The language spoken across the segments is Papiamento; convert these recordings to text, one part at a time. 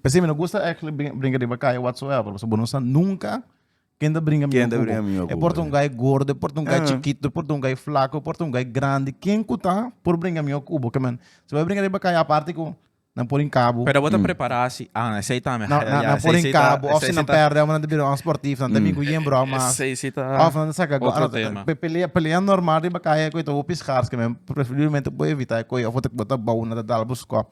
P'esei mi no gusta actually brin- bringa riba kaya whatsoever, pasobra bo no sa nunca ken ta bringa Ken miyon ta ku bringa bo. miyon E ku por ta bo, un guy gordo, e por ta un guy Ah. chikito, e por ta un guy flaco, e por ta un guy grandi, ken ku ta por bringa miyon ku bo? Ke men, si bo a bringa riba kaya aparte ku nan por hinka bo, Pero bo ta Mm. prepará si, ah, esei ta mi. nan, nan, nan por hinka bo, of si nan perde, nan ta bira un sportief, nan ta Mm. bin ku yen brou mas. Esei si ta... Of nan ta saka go- Otro ah, tema. pe- pelea, pelea normal riba kaya ku e ta hopi schaars, ke men preferiblemente bo evitá e koi, of bo ta, bo ta bou, nan ta dal bo skop.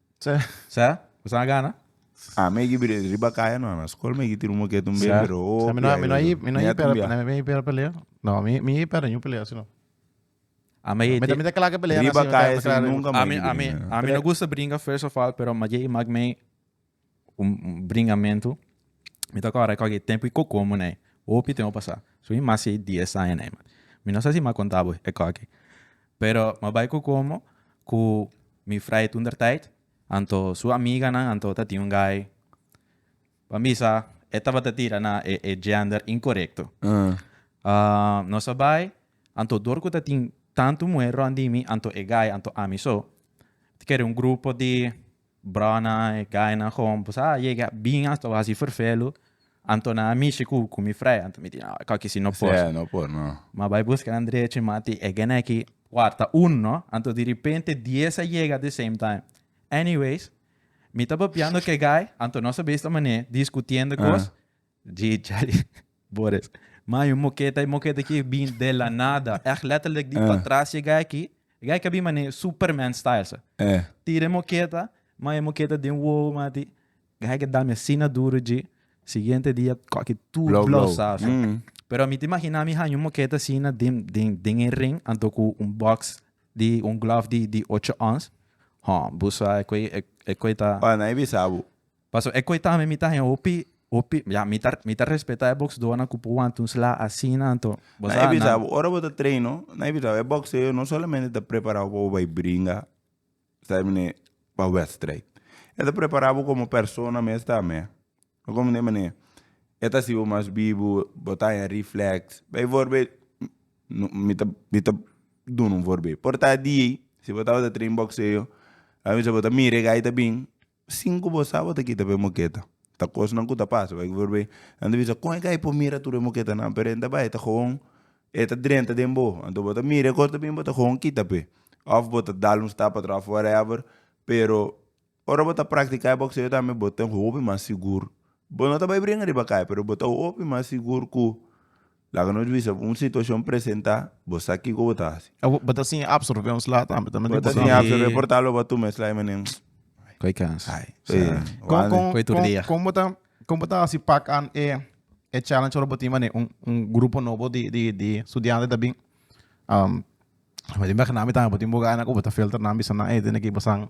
Sa? Bo sa a gana? Ah, mi a gibi den riba kaya no, na skol mi a gitiri un moket un bes, pero o Sa mi no, mi no i, mi no i pera, mi no i pera pelea. No, mi, mi i pera niun pelea asina. A mi Mi ta, mi ta kla ke pelea Riba asina, mi ta kaya kla si riba. nunka mi a Ami, gibiri ami, den. ami no gusta bringa first of all, pero Maye i Magmey un bringamentu mi ta kòrda kòke tempu i kokomo nei hopi tempu a pasá so i mas ei dies aña nei mati mi no sa si mi a konta bo e kòke pero mi a bai kokomo ku mi fray toentertyd anto su amiganan anto ta tin un gai ku a bisa e tabata tira na e e gender inkorekto nos a bai anto dor ku ta tin tantu muhé rònt di mi anto e gai anto ami so ta kere un grupo di. Brònan, e gainan kon bo sa yega bin a sta hasi ferfelu, anto nan a mishi ku ku mi frei, anto mi di no, ko aki si no por. Sè, no por, no. Ma bai buska nan drechi, ma ti e gene aki warta un, no, anto di ripente dies a yega de same time. Anyways, mi ta papiando ku e gai, anto nos a bai esta manera, diskutiendo kos, Jee Charlie Boris. Man, e moketa, e moketa aki bin de la nada. Echt letterlijk di pa tras e guy aki. E guy aki a bin manee Superman style sa. Tira e moketa, man e moketa den wowo mati. Guy aki a dami asina duro djee. Siguiente dia koki tur Blow, blow. blous sa so. Pero mi ta imagina mi haña un moketa asina den den den e ring anto ku un box di un glove di di ocho ons. Ho, bo sa e koe e koe ta. Ora nan e bisa bo. Paso e koe tambe mi ta hen hopi hopi ya mi ta mi ta respeta e boxedonan ku por wanta un sla asina anto bo sa na. Ora bo ta treino na e bisa bo e boxeo no solamente ta prepara bo pa bo bai bringa sa mene pa wèstrijd e ta prepara bo komo persona mes tambe ta komo de manera e ta hasi bo mas bibu bo ta haña refleks bai forbe mi ta mi ta duna un forbe por ta di si bo tabata trein boxeo a bisa bo ta mira e gai ta bin. Sin ku bo sa bo ta kita pa e moketa. Ta kosnan ku ta pasa bai ku por nan ta bisa kon e gai por mira tur e moketanan pero e ta bai e ta gewoon e ta drenta den bo anto bo ta mira e kos ta bin bo ta gewoon kita pe of bo ta dal un stap atraf of whatever pero ora bo ta praktika e bokseo tambe bo ta hopi mas sigur bo no ta bai bringa riba kai pero bo ta hopi mas sigur ku Laga nos bisa bo un situacion presenta, bo sa kico bo ta haci. Bo ta siña absorbe un sla tambe. Ta mende Bo ta boso siña absorbe por tal lo bo a tuma e sla y menen, Koe kans. ay, Sa. eh, Kon wan. kon Koe tur kon dia. kon bo ta kon bo ta hasi pak an e e challenge ora bo tin mane un un grupo nobo di di di studiante ta bin bo tin bek nan bo tin buga nan ku bo ta filter nan bisa nan hey tene ki pasan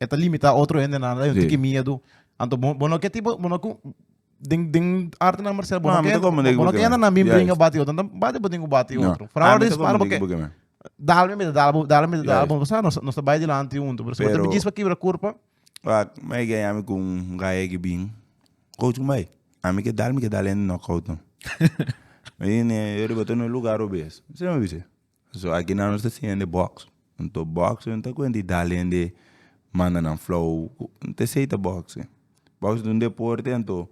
E ta limita otro hendenan, hay un tiki miedu. Anto bo, bo no ke tipo, bo no ku, den, den arte na Marcel, bo No, no mi ke, ta como de bo no buke, ke man. na mi Juist. bringa bati otro, anto bati bo den ku bati No. otro. Ah, Frawa mi ta rispar como de boke, buke, man. dal mi mita, dal bo, dal mi mita, dal bo, Juist. sa nos, nos ta bai dilanti huntu, pero si bo ta Pero- bigis pa kibra kurpa, Wak, mi ke yami ku un gaegi bin, coach ku bai? A mi ke dal, mi ke dal hende knock out, no. Mi di ne, yo riba tur na e lugar robes. Mi semi a bisa. So aki nan nos ta siña hende box nto box nan ta kuente i dal hende manda nan flow nte esei ta boxi box ta un deporte nto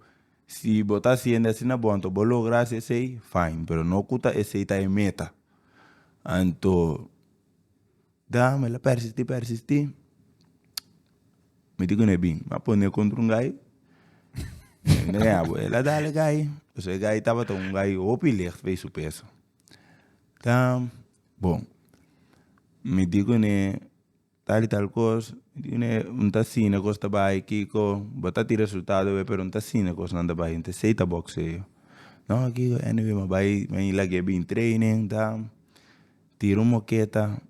si bo ta hasi hende asina bo nto bo logra hasi esei fine pero no ku ta esei ta e meta a nto dam el a persisti persisti miti kuné bini mi a pon'é kontra un gai mi ta yama el a dal e gai pues e gai tabata un gai hopi lègè p'e su peso Ta bon mi di kune tal y tal cos mi ta asina cos ta bay kiko bo ta tin resultado awe pero mi ta asina cos nan ta bay mi ta esey ta boxeo no kiko anyway mi a bay mi a lag'e bin training ta tira un moketa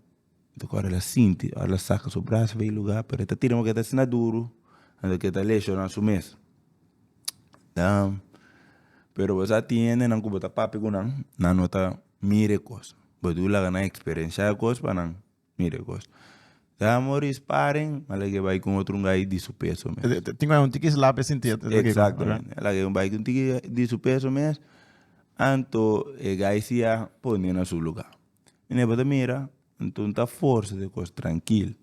Tok ora la sinti, ora la saka su bras bai luga, pero e ta tira moka e ta asina duru, anto ke ta leshona su mes. Pero bo sa tin hendenan ku bo ta papia ku nan, nan no ta mira e kos, bo dibi laga nan eksperenshá e kos pa nan mira e kos. Sa amor sparen, a laga e bai ku un otro ungay di su peso mes. Tin ku hay un tiki slap e sinti ata esaki. Exactamente, a laga e bai ku un tiki di su peso mes, anto e guy si a pone na su luga. Ene bo ta mira anto ta forsa de kos trankil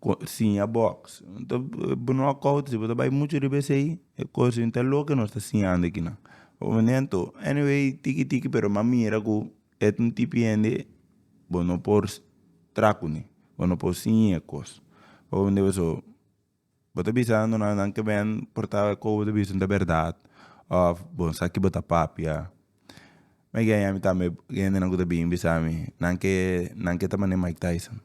ko siña boks ta bo no a kout si bo ta bai muchu riba esei e kos yo ta loke nos ta siñando aki nan momento anyway tiki tiki pero mi a mira ku et un tipi hende bo no por traha kune bo no por siña e kos Bo ta bisa nan duna nan kemen porta kobo bo ta bisa nan ta berdad of bo sa ki bo ta papia me guy ami tambe gentenan ku ta bini bisami nan ke nan ke ta mane mike tyson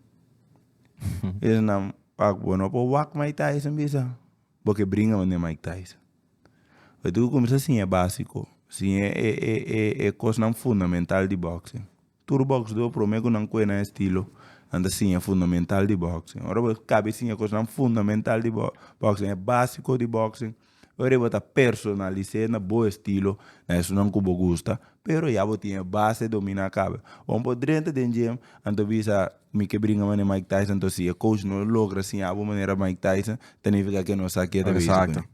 mi ta nan pak bo no por wak mike tyson bisa bo ke bringa mane mike tyson bo tin ku kumsa siña e basico siña e e e e kosnan fundamental di boxing. Tur box dor prome cu nan cuena estilo nan ta siña fundamental di boxing. Ora bo cabe siña cosnan fundamental di boxing, e basico di boxing, oir e bo ta personalise na bo estilo na esonan cu bo gusta pero ya bo tin e base domina cabe. Wan bo drenta den gym a nto bisa mi ke bringa manera Mike Tyson, nto si e coach no logra siñabo manera Mike Tyson ta nifica ke no sa ke ta basico.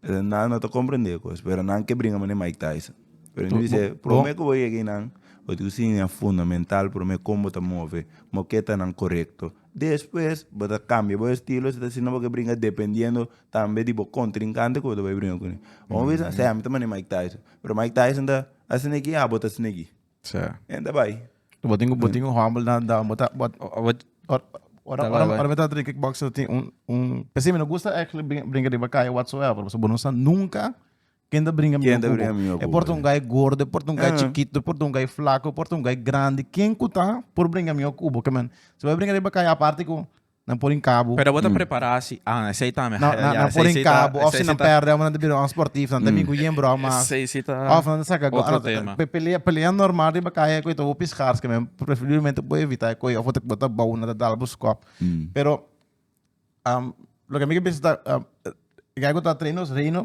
Nan no ta comprende e cos, pero nan ke bringa manera Mike Tyson. Pero mi dice, prome cu bo yega ei nan, bo tin cu siña fundamental prome con bo ta move, como ke ta nan corecto. Despues bo ta cambia bo estilo, si ta asina bo ke bringa dependiendo tambe di bo contrincante cu bo ta bay bringa cun'e. Bo a bisa, sea, mi ta manera Mike Tyson, pero Mike Tyson ta asina aki, ya bo ta asina aki. Sa. En ta bai. Bo tin bo tin un humble dan dan bo ta bo Ora ora ora me ta drinka kickboxer tin un un pesi me no gusta eigenlijk brinca brinca riba kaya whatsoever pasobra bo no sa nunca kende brinca mi no kubo e por ta un guy gordo e por ta un guy chikito e por ta un guy flaco e por ta un guy grandi ken ku ta por brinca mi no kubo kimen si bo brinca riba kaya aparte ku Nan por inkabu. Pero bo ta prepará si, ah, esei ta mihai. Nan, nan por inkabu, òf si nan pèrdè bo nan ta bira un sportif, nan ta bin ku yen bròu mas. Esei si ta otro tema. Òf nan ta saka gòl. Pe pelea, pelea normal riba kai e koe ta bo piská paske men preferiblemente bo evitá e koe òf bo ta bo ta bou nan ta dal bo skòp. Pero loke mi ta bisa ta e gei ku ta Treinos Reino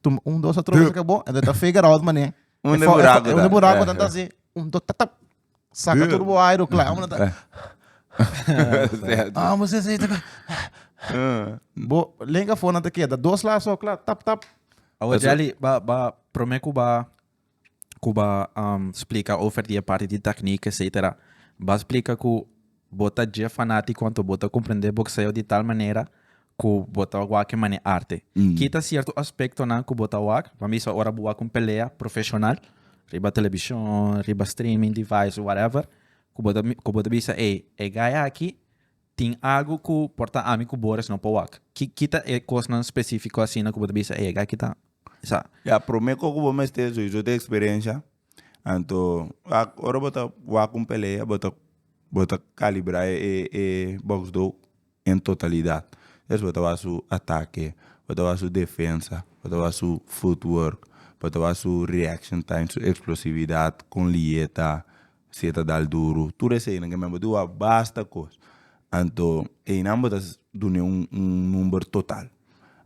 Tum, un, dos, a trompet ka bo, enta ta figure out mané. Un de buraco Un de buraco dan tasi, un, dos, tap, tap. Saca turbo aero, klaar. Amo ta... Amo se se taka. Bo, lenga fona te keda. Dos la so, klaar, tap, tap. Awa Jelly, ba, ba, prome ku ba ku ba splika over di e parti di teknik etsetera ba splika ku bo ta dje fanatiko anto bo ta komprende bokseo di tal manera ku bo ta wak e mane arte. Kita sierto aspektonan ku bo ta wak, pa misa ora bo wak un pelea profeshonal riba telebishon, riba streaming device o whatever ku bo ta bisa ey e gay aki Tin algu ku por ta ami ku Boris no pa wak. Ki ki ta e kosnan spesífiko asina ku bo ta bisa ey aki ta sa? Ya, promé kos ku bo mester so iso ta eksperensia. Anto wak ora bo ta wak un pelea bo ta bo ta kalibrá e e bòks do en totalidat. Ders bo ta wak su atake, bo ta wak su defensa, bo ta wak su footwork, bo ta wak su reaction time, su eksplosividat, kon liye ta. Si e ta dal duru, tur eseinan ke men bo dua basta kos, anto einan bo ta dun'e un un number total.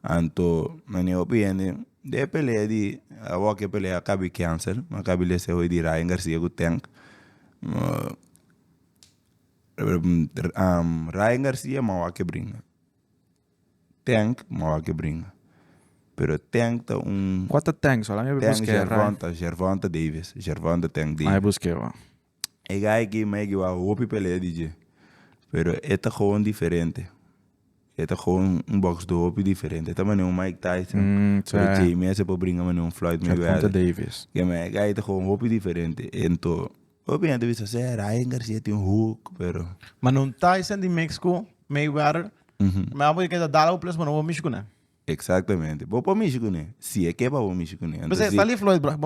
Anto nan e hopi hende den e pelea di awor ke pelea a kabi cancel, a kabi lese hopi di Ryan Garcia ku Tank Ryan Garcia man wak e bringa. Tank mawak e bringa pero tank ta un. Kua ta tank so la mi a bai busk'e rai. Tank Gervonta Davis Gervonta tank Davis. Mai busk'e bo. E guy aki mi a yeg wak hopi pelea di dje pero e ta gewoon diferente e ta gewoon un box do hopi diferente e ta mane un Mike Tyson pero dje mes e por bringa mane un Floyd Mayweather. Gervonta Davis. Kema e guy ta gewoon hopi diferente. Hopi hende bisa sey Ryan Garcia tin hook pero. Ma no Tyson di Mexico Mayweather mi abo ke ta dal abo plus bo no bo mishi kuné. Exactamente bo por mishi kuné si e ke pa bo mishi kuné. P'esei esta li Floyd bra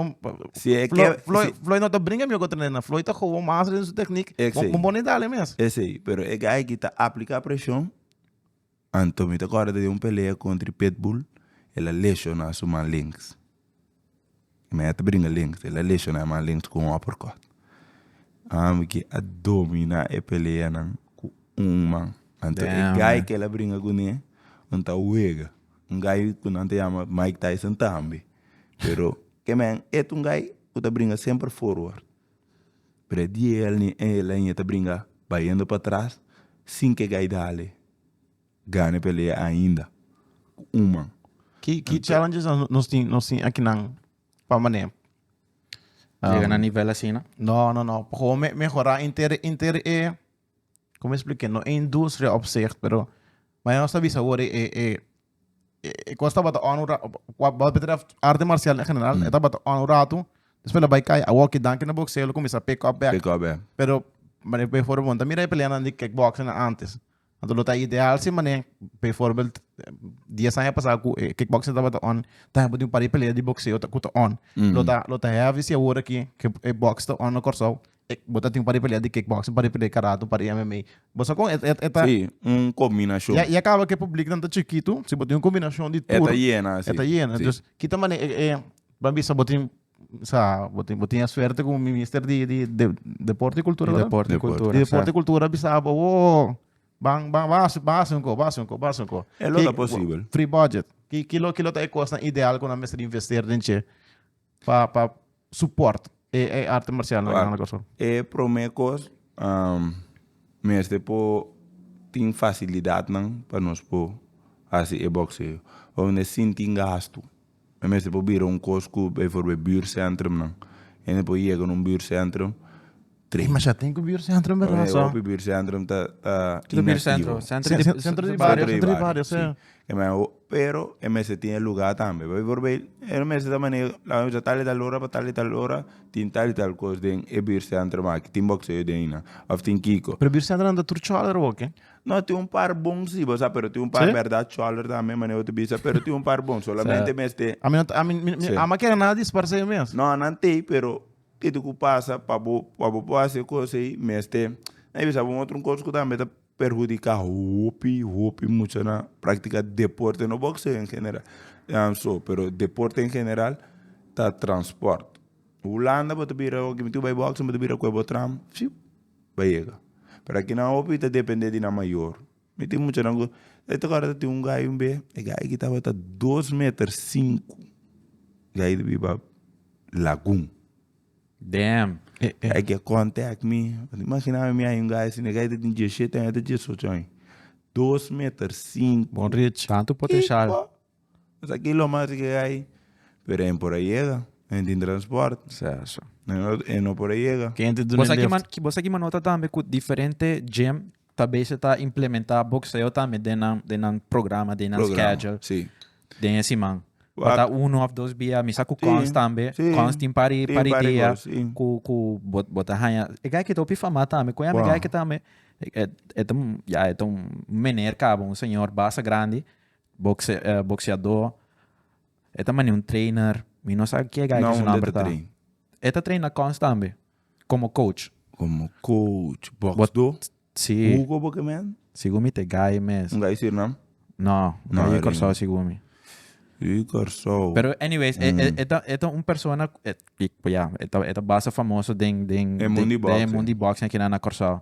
Floyd no ta bringa mi oko trena Floyd ta gowo mas den su technique bo bo ni dale mes. Esei pero e guy aki ta aplica presion. Anto mi ta corda di un pelea contri Pitbull el a lesiona su man links mi a ta bringa links el a lesiona e man links cu un uppercut ami ki a domina e pelea nan cu un man anto e guy cu el a bringa cu ne un ta wega un guy cu nan ta yama Mike Tyson tambe pero e man e ta un guy cu ta bringa semper forward. Predi el ni e leña ta bringa bayendo pa tras sin ke Gaidale gana e pelea ainda ku un man. Ki ki challenges nan nos tin nos tin akinan pa manera Llega na nivel asina? No no no pa gewoon me mehora inter inter e como explica no e industria opzicht pero mayor nos ta bisa wor e e e kos tabata on un rato, wat betreft arte marcial en general, mm. e tabata on un rato, después la bai kai, a walkie danke na boxeo, lo comienza pick up back. Pick up back. Pero, mane pe for monta, mira e pelea na di kickboxing na antes. Anto lo ta ideal si mane, pe voorbeeld, 10 años pasado, ku e kickboxing tabata on, ta hembo di un pari pelea di boxeo ta kuta on. Mm. Lo ta, lo ta heavy si awor aki, ke e box ta on na Corsou, E bo ta tin un par di pelea di kickboxing, un par di pelea di karate, un par di MMA. Bo sa kon e e e ta. Sí, un kombinashon. Ya ya kaba ku e publik nan ta chikitu, si bo tin un kombinashon di tur. E ta yena así. E ta yena. Sí. Entonces, ki ta manera e e ban bisa bo tin sa bo tin bo tin e suerte ku Minister di di de Deporte y Cultura, ¿verdad? Deporte y Cultura. Di Deporte y Cultura a bisa bo, woo, ban ban ban hasi ban hasi un ko, ban hasi un ko, ban hasi un ko. E lo ta posibel. Free budget. Ki ki lo ki lo ta e kosnan ideal ku nan mester invester den dje? Pa, pa support e, e arte marcial nan nan Kòrsou? E promé kos, mester por tin facilidadnan pa nos por haci e boxeo. Bo mester sinti gastu. E mester por bira un kos ku, bijvoorbeeld, buurtcentrum nan. Ende por yega na un buurtcentrum, Tres masha tin ku Buurcentrum Oye, berdad. so. hopi Buurcentrum ta ta Kiko Buurcentrum? inactivo. Centro di Cen- centro di Centro barrio, di centro di barrio, sí. sí. E men ho- pero e mester tin e lugar tambe. Pasobra biforbei e mester ta maneho laga mi bisa tal y tal ora pa tal y tal ora tin tal y tal kos den e Buurcentrum aki. Tin bokseo den nan of tin kiko. Pero Buurcentrum nan ta tur chòlere bo ke? No, tin un par bon si, bo sa, pero tin un par Sí? berdad chòlere tambe maneho bo ta bisa, pero tin un par bon. Solamente mester Ami no ta- ami mi mi Sí. ami a kere nan a disparse mes. No, nan tei pero Kiko ku pasa pa bo pa bo por hasi e kos ei mester nan a bisa bo otro kos ku tambe ta perhudiká hopi hopi muchanan praktika deporte no bokseo en general so pero deporte en general ta transport hulanda bo ta bira oki bo ta bai boksen bo ta bira kue bo tram shiup bai yega pero akinan hopi ta depende di nan mayor. Mi tin muchanan ku e tok ora ta tin un gai un be e gai aki tabata dos meter sinku gai di biba lagun Damn e gai aki a contact mi mi imagina mi hay un gai asina e gai ta tin diecisiete aña ta diesocho aña dos meter sinku Bon rich tantu potencial. Esaki lo mas ke ai pero e por a yega e tin transport e no por a yega. Vos a kiba nota tambe ku diferente gym ta bese ta implementa boxeo tambe den nan den nan programa den nan schedule den e siman tabata uno of dos bia mi sa ku Cons tambe Cons tin par e par e dia ku ku bo ta haña e guy ke ta hopi famá tambe kon yami guy ke tambe e ta un ya e ta un mener kaba un señor basta grandi Boxeadó. E ta mane un trainer. Mi no sa ke guy ku su nomber ta. E ta train na Cons tambe. Komo coach. Komo coach. Boxdó? Si. Who kobo ke men? Sigun mi ta e guy mes. Un guy Surinam? No. Un guy Kòrsou sigun mi. Di Kòrsou. Pero anyways, e ta un persona ku e ta basta famoso den. Den e mundo di boxing. Den e mundo di boxing aki nan na Kòrsou.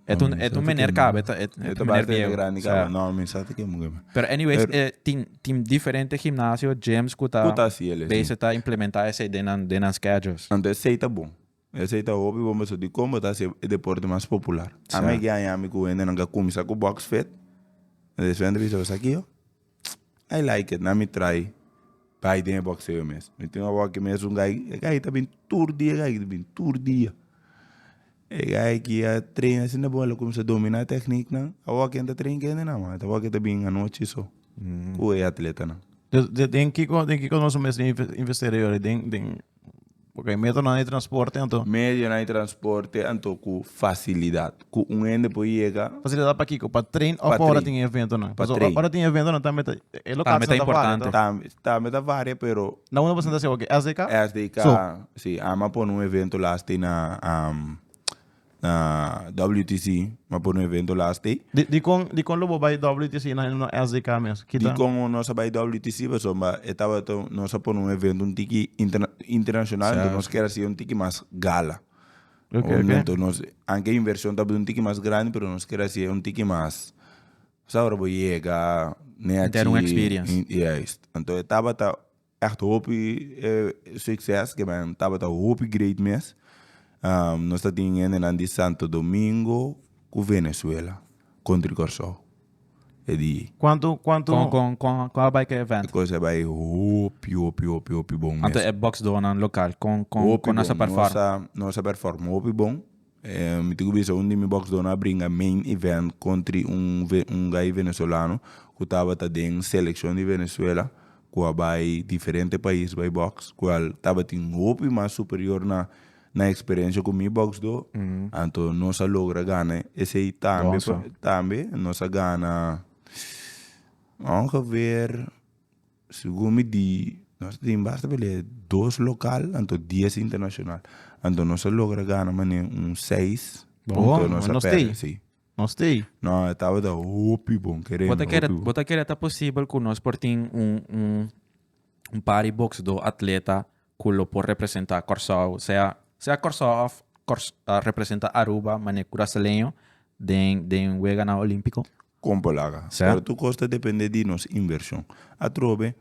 E ta un, e ta un mener caba, e ta, e ta un mener biego. grande caba. Sa. No, mi sa ti ke muke me. Pero anyways, Pero- eh, tin, tin diferente gimnasio, gyms cu ta, Cu ta hasi el, eh, bezig ta implementa esey den nan, den nan schedules. Anto esey ta bon. Esey ta hopi bon pasobra di con bo ta hasi e deporte mas popular. Sa. Ami a giaña mi cu hendenan ke a cuminsa cu boxfit. Despues nan ta bisa, esaki yo? Tss I like it na mi try bai den e boxeo mes mi tin awor ki mes un gai e gai ta bin tur dia e gai ta bin tur dia e gai ki a train asina bo lo cuminsa domina techniek nan awor ken ta train kende nan mata awor ken ta bin anochi so cu e atletanan. Den den kiko den kiko nos a mester investera yora den den. Bo kei metronan di transporte anto. Medionan di transporte anto ku fasilidat ku un hende por yega. Fasilidat pa kiko? Pa trein òf pa ora tin e eventonan? Pa trein. Pasobra ora tin e eventonan tambe ta e lokatsnan ta varia to. Tambe ta importante. Tambe ta varia pero. Na unda bo sienta si awor ke SDK? SDK, si. Ama pone un evento last day na. na WTC ma por un evento last day. Di, di con, di con lo bo bay WTC na no SDK mes? Kita. Di con nos a bay WTC paso ba e tabata nos a pone un evento un tiki interna, internacional ento nos kier haci un tiki mas gala. Okay, okay. Momento nos, anke inversion tabata un tiki mas grandi pero nos kier haci un tiki mas, sa ora bo yega, ne haci. Ter un experience. Juist. Ento e tabata. Echt hopi succes ke men tabata hopi great mes. Nos ta tin hendenan di Santo Domingo cu Venezuela country Corsou e di. Cuanto cuanto. Con con con con a bai ke event? E cos a bai hopi hopi hopi hopi bon mes. Anto e box doornan local con con con nos a perform? Hopi bon nos a nos a perform hopi bon. Mi tin ku bisa un di mi boksdornan a bringa main event kontri un guy venezolano ku tabata den selekshon di Venezuela ku a bai diferente pais bai boks ku al tabatin hopi mas superior na na eksperensia ku mi boksdor anto nos a logra gana esei tambe tambe nos a gana aunke ver. Segun mi di nos ta tin basta pele dos local anto dies internacional anto nos a logra gana mane un seis punto nos a perde si. Nos ta ey. No e tabata hopi bon kere mi hopi bon. Bo ta kere ta posibel ku nos por tin un un un pari boksdo atleta ku lo por representa Kòrsou sea sea Kòrsou of representa Aruba mane kurasaleño den den weganan olimpiko? Kon pa laga? Pero tur kos ta depende di nos invershon. Atrobe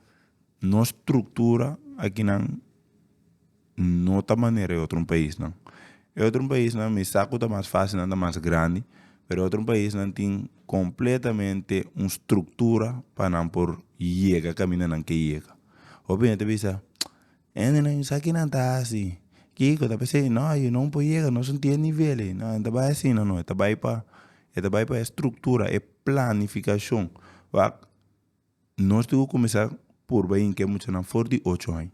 nos struktura akinan no ta manera e otro paisnan. E otro paisnan mi sa ku ta mas fasil nan ta mas grandi, pero e otro paisnan tin kompletamente un struktura pa nan por yega kaminda nan ke yega. Hopi hende ta bisa Hendenan y sa kinan ta hasi kiko ta p'esei no ayu no por yega nos no tin e nivel ei no e ta bai asina no e ta bai pa e ta bai pa e structura e planificacion wak nos tin cu cuminsa por bai yinki e muchanan for di ocho aña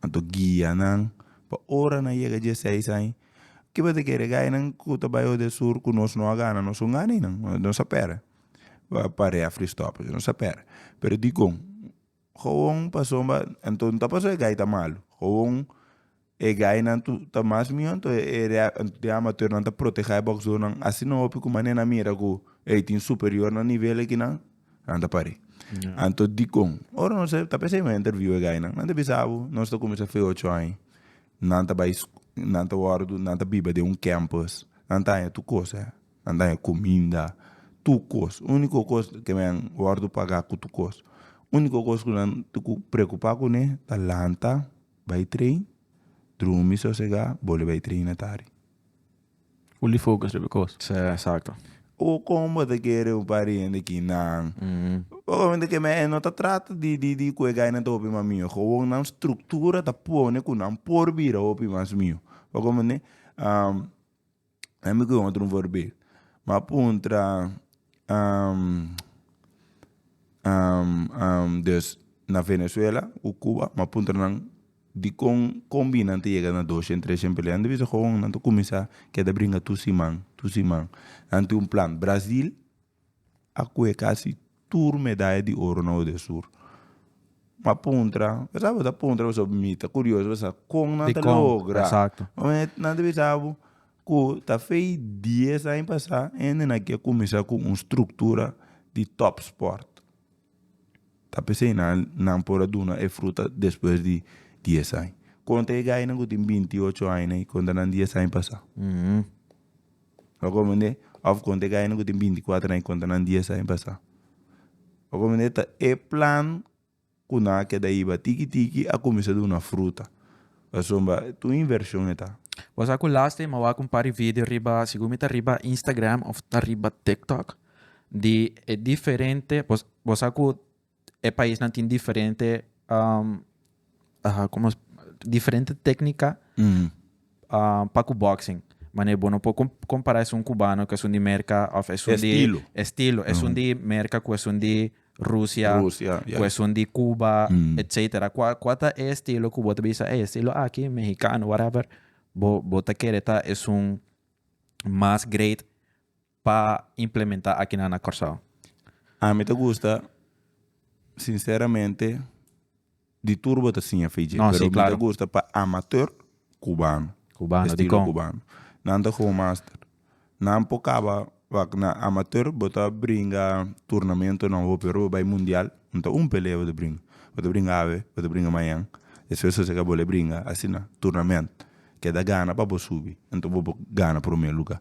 anto guia nan pa ora nan yega die seis aña kiba ta kere gainan cu ta bai orde sur cu nos no a gana nos un gana ei nan nos a pere parea free stop nos a pere pero dikon. Gewoon pasobra anto no ta pasobra e gai ta malu gewoon e gainan tu ta mas mion anto e de amateurnan ta proteha e boksdornan asi no hopi ku mane nan mira ku ey tin superior na nivel e kinan nan ta pare anto dikon ora nos ta pensa kimin a interview e gainan nan ta bisa bo nos ta kuminsa fe ocho aña nan ta bai nan ta wòrdu nan ta biba den un campus nan ta haña tur kos. Nan daña cuminda, tur cos. Unico cos ke men wordo paga cu tur cos. Unico cos cu nan tucu preocupa cune ta lanta, bay train, drumi sosega, bole bay train na tardi. Fully focus riba e cos. Si, exacto. O con bo ta kere un par di hende aki nan, obviamente ke men no ta trata di di di cu e gaynan ta hopi mas miho. Gewoon nan structura ta pone cu nan por bira hopi mas miho. Bo comprende? Nan mi koyon otro vorbé ma puntra des na venezuela ku cuba ma puntra nan dikon kon bini nan ta yega na doshen treshen pelenan nan ta bisa kon nan ta kuminsá keda bringa tu siman tu siman nan tin un plan brazil a koe kasi tur medaya di oro na Oder Sur. M'a puntra, besa bo ta puntra pasobra bo mita kurioso besa kon nan ta logra. Oe nan ta bisa bo ku ta fei dies aña pasa hende na ke kuminsá ku un struktura di top sport. Ta p'esei nan nan por a duna e fruta despues di dies aña. Kon ta e gainan ku tin binti ocho aña na i konta nan dies aña pasa. Lo comprende? Of con te gaynan cu tin binti cuatro aña contra nan dies aña pasa. Lo comprende? Ta e plan cu nan a keda ahiba tiki tiki a cuminsa duna fruta. Pasobra mi a bay tu inversion eta. Bo sa cu lastima a wak un par di video riba, segun mi ta riba Instagram of ta riba TikTok, di e diferente, bo sa cu e paisnan tin diferente um, ah, como es- diferente técnica Mhm. ah, pa cu boxing. Mane bo no por com- compara esun cubano cu esun di Merca of esun di Estilo. estilo, esun di Merca cu esun di Rusia, Rusia, cu juist. esun di Cuba, Mm. etcetera. Cua cua ta e estilo cu bo ta bisa e estilo aki mexicano whatever bo bo ta kere ta esun mas great pa implementa akinan na Corsao? Ami ta gusta sinceramente di tur bo ta siña fei dje, No, si, pero mi claro. ta gusta pa amateur cubano, Cubano, estilo dicon? cubano. Nan ta gewoon master. Nan por caba wak na amateur bo ta bringa turnamentonan hopi ora bo bay mundial no ta un pelea bo ta bringa. Bo ta bringa awe, bo ta bringa mañan, despues ta seca bo le bringa asina turnament. ke ta gana pa bo subi, anto bo por gana promé lugá.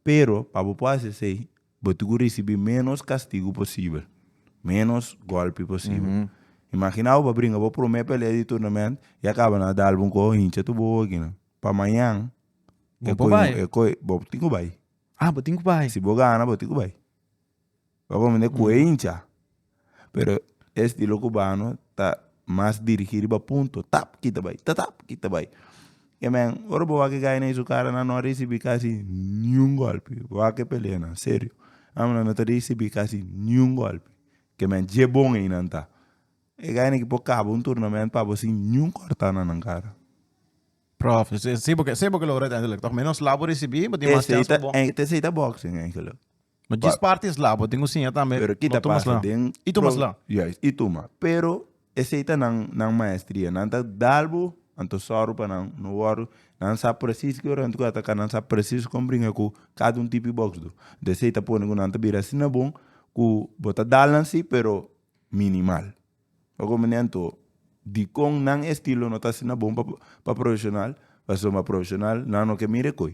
Pero pa bo por hasi esei, bo tin ku risibí ménos kastigu posibel, ménos gòlpi posibel. Imaginá bo pa bringa bo promé pelea di turnament i a kaba nan a dal bo un koho hincha tur bo oki nan. Pa mañan Bo por bai. bo tin ku bai. Ah, bo tin ku bai. Si bo gana bo tin ku bai. Lo cu mende cu hincha pero e estilo cubano ta mas dirigi riba punto tap kita bay ta tap kita bay e men ora bo wak guy na su cara nan no a ricibi casi ni un golpe wak e peleanan serio nan nan no ta ricibi casi ni un golpe ke men dje bon ey nan ta e guy nan por cabo un turnament pa bo sin ni un corta na nan cara. Prof si bo si bo ke lo ora uiteindelijk toch menos labo ricibi bo tin mas chance pa bo. esey ta boxing eigenlijk No djis parti es labo, tin un siña tambe. Pero kita pasa den. I tumas la. Juist, i tuma. Pero esei ta nan nan maestria. Nan ta dal bo, anto sòru pa nan no wòrdu. Nan sa presis ki ora nan ta kuda ataka, nan sa presis kon bringa ku kada un tipi boksdu. Anto esei ta pone ku nan ta bira asina bon ku bo ta dal nan si pero minimal. Ora ku minen anto dikon nan estilo no ta asina bon pa profeshonal, pasobra profeshonal nan no ke mira e koi.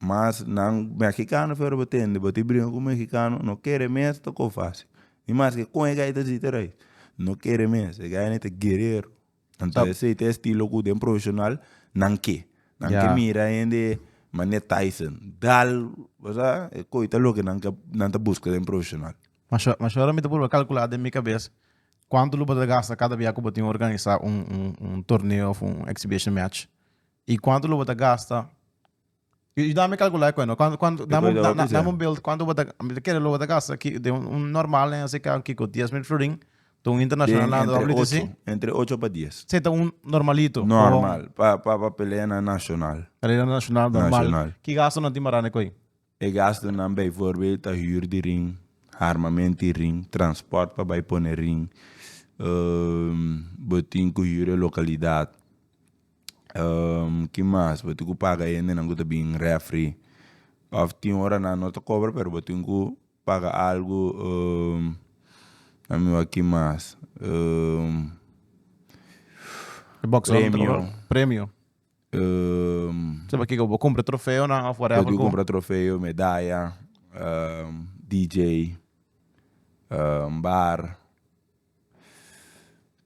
Mas nan mexicano fero bo tende bo ti bringa cu mexicano no kere mes ta co fasi ni mas ke con e gai ta siti arai no kere mes e gai ne ta guerero anto esey ta e estilo cu den profesional nan ke nan ke mira hende mane Tyson dal basa e coita loke nan ke nan ta busca den profesional. Masho masho ora mi ta proba calcula den mi cabes cuanto lo bo ta gasta cada bia cu bo tin organisa un un un torneo of un exhibition match y cuanto lo bo ta gasta Yu dame kalkula e kuento, dame un beeld kuantu bo ta, mi ta kere lo bo ta gasta den un normal en SIK un kiko dies mil florin, den un internashonal lando a habri di si? Entre ocho pa dies. Sey ta un normalito? Normal, pa pa pa pelea na nashonal. Pelea na nashonal normal. Ki gastonan tin marane ku ei? E gastunan bijvoorbeeld ta huur di ring, harmament di ring, transport pa bai pone ring, bo tin ku huur e localidad, ki mas bo tin ku paga e hendenan ku ta bin refri of tin horanan no ta cobra pero bo tin ku paga algu la mi wak ki mas premio. Sa pa kiko bo cumpra trofeonan of whatever cu. Bo di cumpra trofeo, medaya, DJ, bar,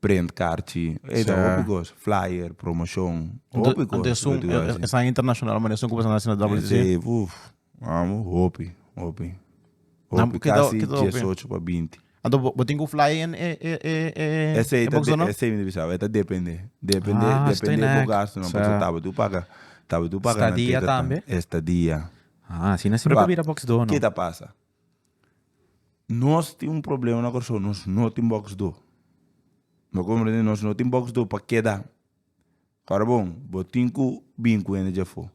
print carchi, ey ta hopi cos, flyer, promotion, hopi cos. Ento esun esaki internacional mane esun cu bo ta haci na WCC? Ente uff. Amo, hopi, hopi. Nan, Hopi, keda- kasi keda hopi? diesocho pa binti. Anto bo, bo tin ku fly en e e e e Ese e ta box de- no? ese mi ta bisa, e ta depende. Depende, Ah, depende estoy bo nek. gastunan, Sa. paso tabatin u paga, tabatin u paga nan Stadia teta tan. tambe? Estadia. Ah, asina si Pero no a- bira box door no. Ke ta pasa? Nos tin un problema na Kòrsou, nos no tin box door. Bo comprende? Nos no tin box door pa keda. Ora bon, bo tin cu bin cu hende dja afo.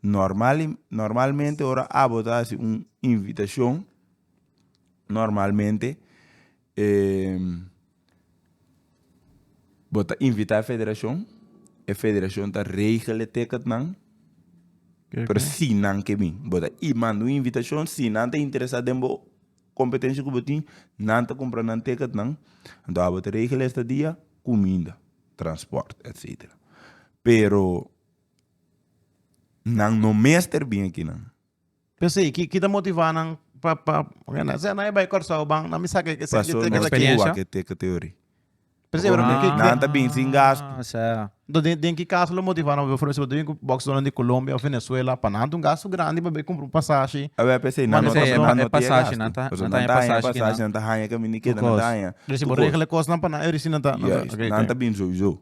Normal, normalmente ora abo ta haci un invitacion, normalmente bo ta invita e federacion, e federacion ta regel e ticket nan, pero si nan ke bin, bo ta manda un invitacion, si nan ta interesa den bo competencia cu bo tin, nan ta cumpra nan ticket nan, enton abo ta regel e estadia, cuminda. transport etc. Pero nan no mester bin aki nan. Pero si, ki ki ta motiva nan pa pa oke nan se nan e bai Curaçao ban nan mi saca e sentimiento Paso nos ta cuba ke te ke teori. Pero si, pero ki ki Nan ta bin sin gasto. Ah, sa. Enton den den ki caso lo motiva nan befo si bo ta bin cu box donan di Colombia of Venezuela pa nan ta un gasto grandi pa bai cumpra un pasashi. Awe p'esei nan no ta Pasashi nan ta nan ta haña pasashi nan ta haña caminda y keda nan ta haña. Dor si bo regla e kosnan pa nan e reci nan ta. Juist, nan ta bin souiso.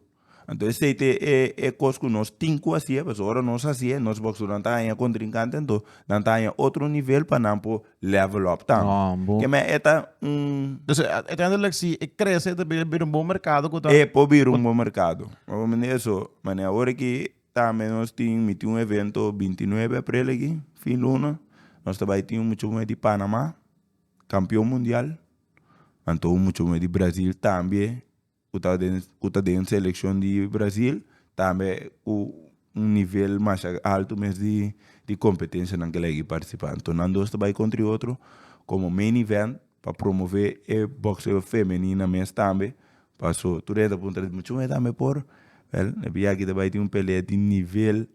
Anto esei ta e kos ku nos tin ku haci'e pasobra ora nos haci'e nos bokshonan ta haña kontrinkante anto nan ta haña otro nivel pa nan por level up tambe. Keme e ta un. Entonces e ta yendo lek si e krese ta bira bira un bon merkado ku ta. E por bira un bon merkado ora mi na eso mane awor aki tambe nos tin mi tin un evento binti nuebe aprel aki fin luna nos ta bai tin un muchacho ku bai di panama kampion mundial. Anto un mucha muher di Brasil tambe ku ta den ku ta den selekshon di Brasil tambe ku un nivel masha altu mes di di kompetensha nan kila yagi partisipa anto nan dos ta bai kontra e otro komo main event pa promove e bokseo femenina mes tambe paso tur e ta puntra mucha muher tambe por well e yagi ta bai tin un pelea di nivel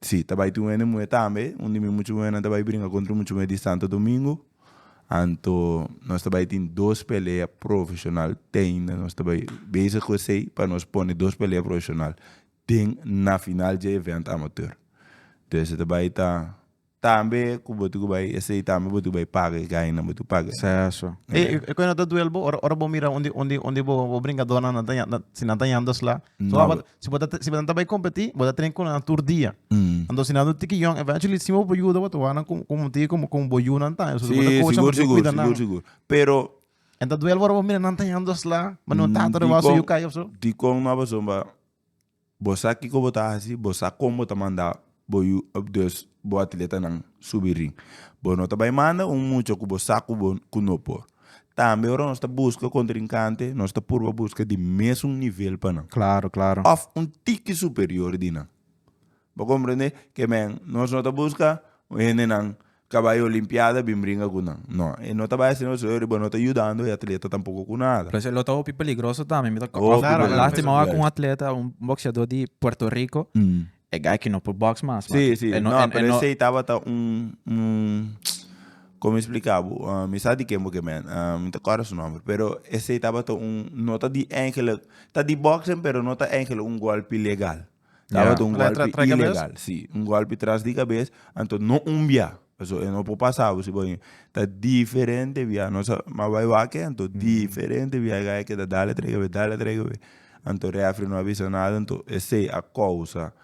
Sí, ta bai tin un hende muhé tambe. Un di mi mucha muhénan ta bai bringa contra un mucha muhé di Santo Domingo. Anto nos ta bai tin dos pelea profesional t'ei na nos ta bai bezig cu esei pa nos pone dos pelea profesional den na final dje event amateur. Entonces ta bai ta tambe cu bo tin cu bai esei tambe bo tin cu bai paga e gainan bo tin cu paga. Seso. E e coe no ta duel bo ora ora bo mira un di un di un di bo bo bringadornan nan ta nan si nan ta yanda sla? So a ba Si bo ta si bo ta bai kompetí, bo ta tren ku nan tur dia. Anto si nan do tiki yòn, eventually si bo por yuda bo ta wak nan ku ku tiki ku ku bo yu nan ta. Si bo ta coach nan, bo tin kuida nan. Sigur, sigur, sigur. Pero, E ta duel ora bo mira nan ta yam dos la, bo no ta atrevá su yu kai of so. Dikon no a pasó, bo sa kiko bo ta hasi, bo sa kon bo ta manda. Bo yu ep dus bo atletanan subi ring. Bo no ta bai manda un mucha ku bo sa ku bo ku no por. Tambe ora nos ta buska kontrinkante nos ta purba buska di mesun nivel pa nan. Klaro, klaro. Òf un tiki superior di nan. Bo komprende? Ke men, nos no ta buska un hendenan Cabayo limpiada bin bringa cu nan. No, e no ta bay asina pasobra riba no ta yudando e atleta tampoco cu nada. Lo lo ta hopi peligroso tambe. Mi ta Hopi costarme. peligroso. Lastima ora cu un atleta, un boxeador di Puerto Rico, e guy ki no por box mas, man. Sí, sí. E no, e no. No, pero esey tabata un, un, como explica bo? Mi sa di ken bo ke men. Mi ta corda su nomber. Pero esey tabata un, no ta di eingelijk, ta di boxen pero no ta eingelijk un golpe legal. Tabata un golpe ilegal, si. Un golpe tras di cabes. Anto no un bia. Pasobra e no por pasa bo si bo bai. Ta diferente bia. Nos a mas bai wak anto diferente bia. E gaya keda dale trei cabes, dale trei cabes. Anto refri no a bisa nada. Anto esey a causa.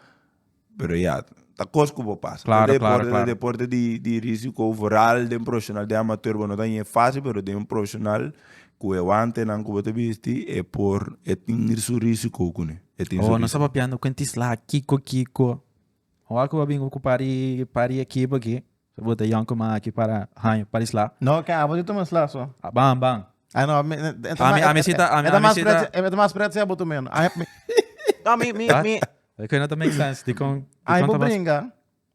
Pero ya, ta cos cu por pasa. Claro, claro, claro. Deporte ta deporte di risico vooral den profesional, den amateur. Bo no ta yeh facil, pero den un profesional cu e wantenan cu bo ta bisti e por, e tin su risiconan. e tin su vida. Papiando cu Tisla kiko kiko ora cu a bin cu pari pari ekipo aki cu bo ta young cu man aki para haño pari sla. No ken abo di tuma sla so. A ban ban. Ah no ami ami si ta ami si ta. E ta mas pret si abo tuma yo no. No mi mi mi. Cu no ta make sense dicon dicon ta mas. Ai bo bringa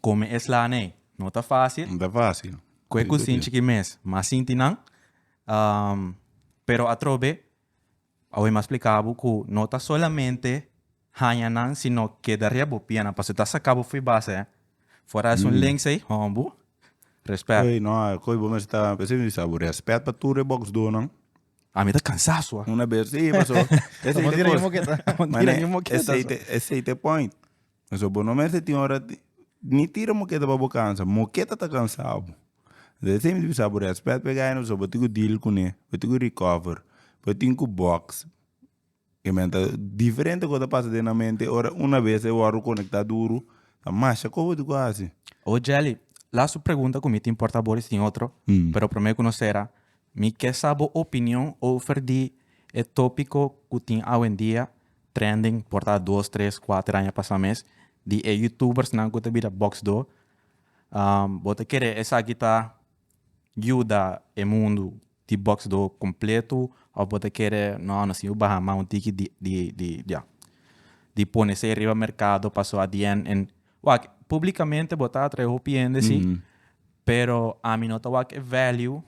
Kome es laha n'ey no ta fácil. No ta fácil. Ku e kusinchi ki mes mas sinti nan. Pero atrobe, awe m'a spliká bo ku no ta solamente haña nan, sino keda riba bo piena, pasobra ta saká bo fo'i base. Fora esun links ey, hombu, rèspèt. Ey no, ko'i bo mester ta, esei mi bisa bo, rèspèt pa tur e boksdónan. Ami ta kansá su a. Una bes, sí, paso esei t'e kos. Amo tira ña moketa. Amo tira ña moketa su. Esei t'e point. So bo no mester tin ora ni tira moketa pa bo kansa moketa ta kansabo bo esei bisa bo respet pa e guy no so bo tin ku deal kune bo tin ku recover bo tin ku box e men ta diferente kosa ta pasa den nan mente ora una bes e wòrdu konekta duru ta masha kon bo tin ku hasi. Oye Jelly lastu pregunta ku mi tin por ta bo tin otro pero prome ku no sera mi ke sa bo opinion over di e topiko ku tin awendia Trending por ta dos, tres, kuater aña pasa mes di e youtubersnan ku ta bira boxdo. Bo ta kere esaki ta yuda e mundu di boxdo kompletu òf bo ta kere nò nos tin ku baha mas un tiki di di di ya di pone esei riba merkado paso at di end en wak publikamente bo ta atrae hopi hende si pero ami no ta wak e value.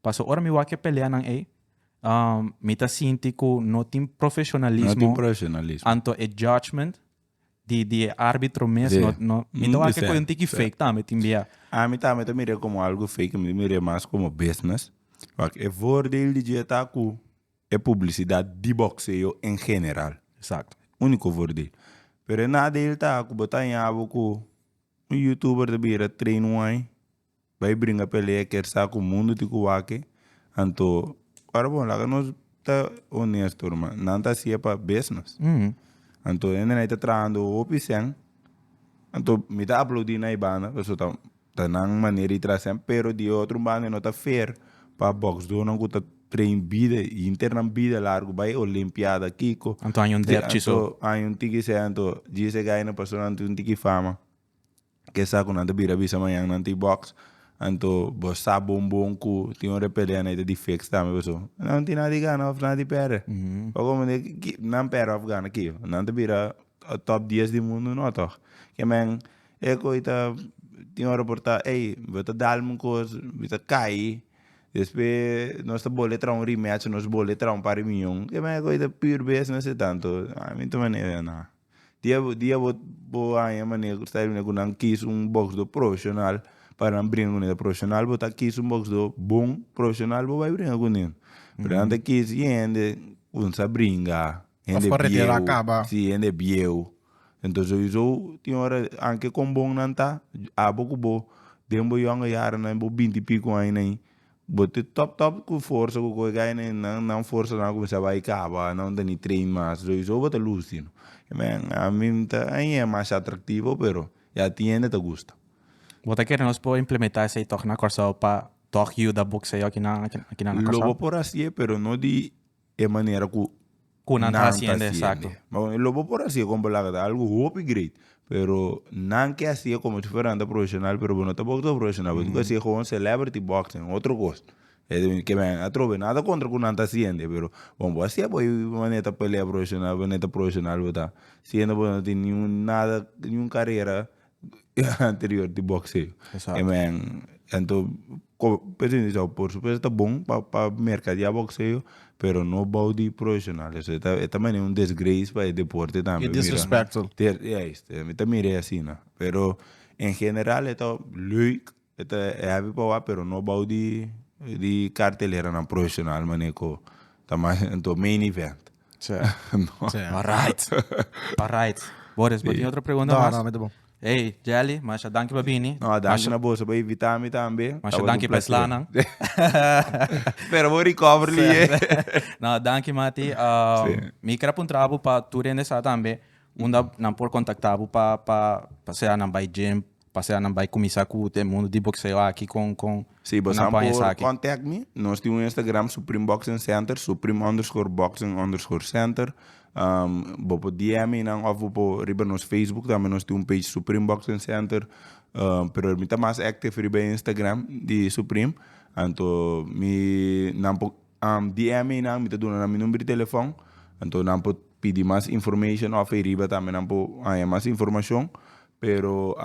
Paso ora mi wak e peleanan ei, mi ta sinti ku no tin profeshonalismo, anto e judgement di di e arbitro mes no no mi ta wak ku e un tiki fake tambe tin bia. Ami tambe mi ta mira komo algu fake mi ta mira mas komo business wak e voordeel di dje ta ku e publisidat di bokseo en general uniko voordeel pero e nadeel ta ku bo ta haña bo ku un youtuber ta bira train wai. Bai bringa pelea kier sa cu mundo tin cu wake anto ora bon laga nos ta honesto ruma nan ta hacia pa bes nos anto hende na ta trahando hopi shen anto mi ta aplaudi na e banda pasobra ta ta nan manera di traha shen pero di e otro banda no ta fair pa boxdonan cu ta train bida y inter nan bida largo bai olimpiada kico anto año un tiki shen anto djis e gainan paso nan tin un tiki fama. ke sa ku nan ta bira bisa mañan nan ta e box anto bo sa bon bon ku tin un repele anei ta di fix tambe paso nan tin nada di gana of nada di perde bo komo di ki nan perde of gana kijo nan ta bira top dies di mundu no toh ke men e koi ta tin ora por ta ey bo ta dalme un kos mi ta kai despues nos ta bole traha un rematch nos bole traha un par riunion ke men e koi ta pur bes no se tanto a mi ta manera nan. Dia dia bo bo haña manera ku Estados Unidos ku nan kis un boksdor profeshonal para nan bringa kuné ta profeshonal bo ta kis un boksdor bon profeshonal bo bai bringa kuné pero nan ta kis ki hende ku sa bringa hende bieu si hende bieu entonces sowieso tin ora anke kon bon nan ta abo ku bo den bo yonga yaranan bo binti i piko añanan. Bo te top top ku forsa ku koe kai ne nan nan forsa nan a kuminsá bai kaba nan ta ni train mas lo iso bo ta lusi no men a mi mi ta a ña masha atraktivo pero ya tin hende ta gusta. Bo ta kere nos por implementá esei tòg na Kòrsou pa tòg yuda bokseo akinan akinan na Kòrsou? Lo bo por hasié pero no di. e manera ku Ku nan ta hasiende, exacto. Bon, lo bo por hasié kon bo laga ta algo hopi great, pero nan ke hasié komo si fuera nan ta profesional, pero bo no ta boxeo profesional, bo tin ku hasié gewoon celebrity boxing, otro kos. Ke men a trobe, nada kontra ku nan ta hasiende, pero kon bo hasié bo manera ta pelea profesional, bo no ta profesional bo ta siendo bo no tin niun nada, niun karera anterior di boxeo. Exacto. E men anto ko p'esei mi sa por supuesto ta bon pa pa merkadeá boxeo pero no bou di profesional eso e ta e ta manera un desgrace pa e deporte tambe. E disrespectful. Ter juist, mi ta mira e asina pero en general e ta leuk E ta e habi pa wak pero no bou di di carteleranan profesional mane ku ta mas anto main event. Tsja. No. Tsja. Arait. Arait. Boris, bo tin otro pregunta mas? No, no, mi ta bon. Hey, Jelly, masha danki pa bini. No, danki na boso pa invita mi tambe. Masha danki pa e slanan. Spera bo recover li e. No, danki Mati. Si. Mi ker a puntra bo pa tur hende sa tambe unda nan por kontakta bo pa pa pa sea nan bai gym Pasea nan bai kumisa ku te mundu di bokseo aki kon kon Si bo nan pon esaki. contact mi. Nos tin un Instagram Supreme Boxing Center, Supreme underscore Boxing underscore Center. Bo por DM mi nan of bo por riba nos Facebook tambe nos tin un page Supreme Boxing Center. Pero mi ta mas active riba e Instagram di Supreme anto mi nan por di MA nan mi ta duna nan mi number di telefon anto nan por pidi mas information of ahi riba tambe nan por haña mas informacion pero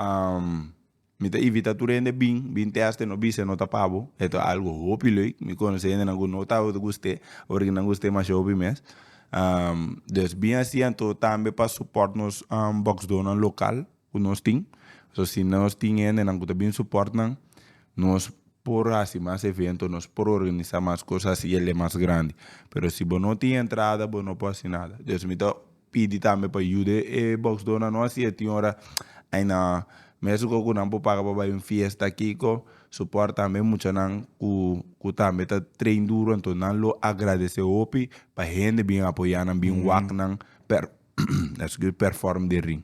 mi ta invita tur hende bin bin test y no bisa e no ta pa bo e ta algo hopi leuk mi conoce hendenan cu no ta ota cu ste ora que nan gusta e masha hopi mes dus bin asi anto tambe pa support nos boxdoornan local. ku nos tin. So si nos tin hendenan ku ta bin suport nan, nos por hasi mas evento, nos por organisa mas kosas, hasi el e mas grandi. Pero si bo no tin entrada bo no por hasi nada. Dios mi ta pidi tambe pa yuda e boksdoornan no hasi e tin ora ai na Mexico ku nan por paga pa bai un fiesta aki ko suport tambe e muchanan ku ku tambe ta train duro anto nan lo agradece hopi pa hende bin apoyanan bin wak nan per escusa perform den ring.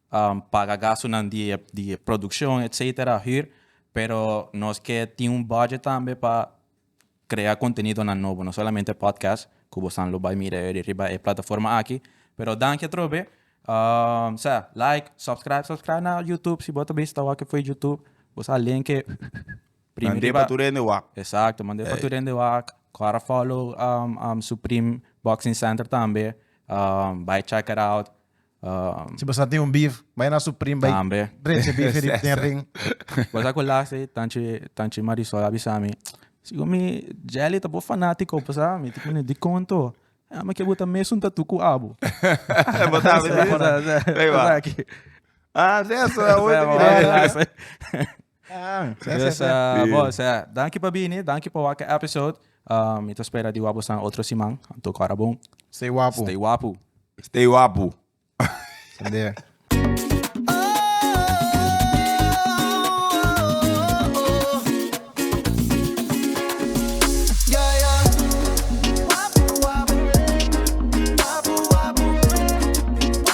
paga gastunan di e di e produccion etc hür pero nos ke tin un budget tambe pa crea contenidonan nobo no solamente podcast cu bosan lo bay mira e riba e plataforma aki pero danki atrobe sa like subscribe subscribe na youtube si bo ta bisa ta wak fo'i youtube bo sa len ke primi riba mande pa tur hende wak exacto mande pa tur hende wak cora follow supreme boxing center tambe bay check it out. Si bo sa tin un beef, bai na su prim bai drecha beef di den ring. Bo sa ku las e tanchi tanchi Marisol a bisa mi, Sigo mi Jelly ta bo fanatico pasa mi tin kuni dikon to. Ey mi ke bo ta mesun tatu ku abo. Bo sa mi di sa. Pasa aki. Ah, sesa. Dus bo sea, danki pa bini, danki pa wak e episode. Mi ta spera di wapu san otro siman. Anto kora bon. Stay wapu. Stay wapu. Stay wapu. Sende.